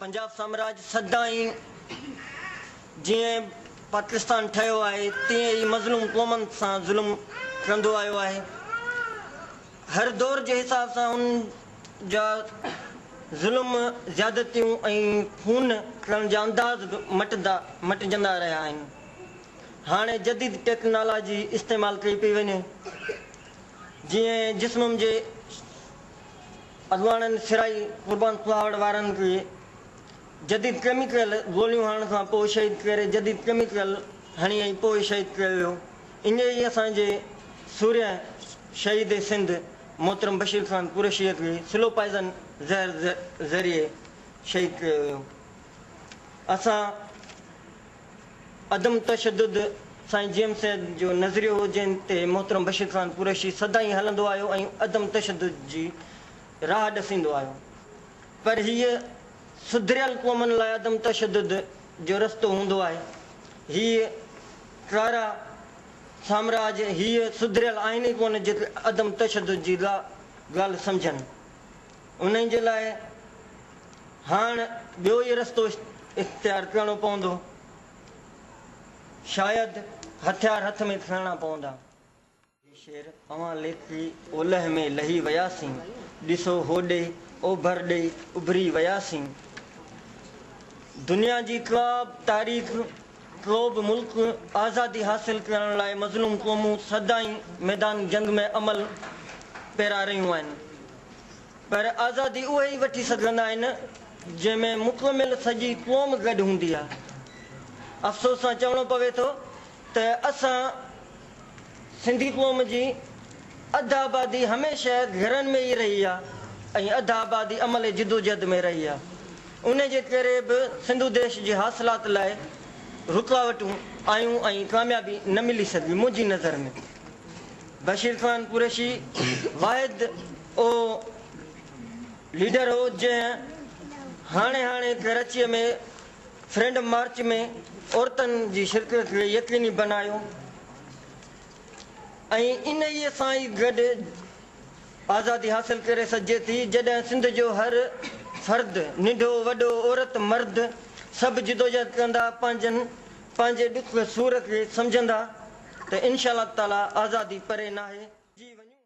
پنجاب سامراج سدائين جيئن پاڪستان ٺهيو آهي تيئن ئي مظلوم قومن سان ظلم ڪندو آيو آهي. هر دور جي حساب سان ان جا ظلم، زيادتيون ۽ خون ڪرڻ جا انداز به مٽندا مٽجندا رهيا آهن. هاڻي جديد ٽيڪنالاجي استعمال ڪئي پئي وڃي جيئن جسمم جي اڳواڻن سرائي قربان ڪهاڙ وارن کي جديد ڪيميڪل گوليون هڻڻ کان پوء شهيد ڪري جديد ڪيميڪل هڻي ۽ پوء شهيد ڪيو ويو اڃ ئي اسان جي سورهيه شهيد سنڌ محترم بشير خان قريشيء کي سلو پائزن زهر ذريعي شهيد ڪيو ويو اسان عدم تشدد سائين جي ايم سيد جو نظريو هو جنهن تي محترم بشير خان قريشي سدائين هلندو آيو ۽ عدم تشدد جي راهه ڏسيندو آيو پر هيء سڌريل قومن لاء عدم تشدد جو رستو هوندو آهي هيء ڪارا سامراج هيء سڌريل آهن ئي ڪونه جيڪي عدم تشدد جي ڳالهه سمجهن. انهن جي لاء هاڻ ٻيو ئي رستو اختيار ڪرڻو پوندو. شايد هٿيار هٿ ۾ کڻڻا پوندا. هي شعر اوهان ليکي اولهه ۾ لهي وياسين، ڏسو هوڏي اوڀر ڏي اڀري وياسين. دنيا جي ڪا به تاريخ، ڪو به ملڪ آزادي حاصل ڪرڻ لاء مظلوم قومون سدائين ميدان جنگ ۾ عمل پيرا رهيون آهن. پر آزادي اهي ئي وٺي سگهندا آهن، جنهن ۾ مڪمل سڄي قوم گڏ هوندي آهي. افسوس سان چوڻو پوي ٿو ته اسان سنڌي قوم جي اڌ آبادي هميشه گهرن ۾ ئي رهي آهي ۽ اڌ آبادي عملي جدوجهد ۾ رهي آهي. انهي جي ڪري به سنڌو ديش جي حاصلات لاء رڪاوٽون آيون ۽ ڪاميابي نه ملي سگهي، منهنجي نظر ۾. بشير خان قريشي واحد اهو ليڊر هو جنهن هاڻي هاڻي ڪراچيء ۾ فريڊم مارچ ۾ عورتن جي شرڪت کي يقيني بنايو ۽ انهيء سان ئي گڏ آزادي حاصل ڪري سگهجي ٿي جڏهن سنڌ جو هر فرد ننڍو وڏو عورت مرد سڀ جدوجهد ڪندا پنهنجن پنهنجي ڏک ۾ صورت جي سمجهندا ته انشاء الله تعاليٰ آزادي پري ناهي.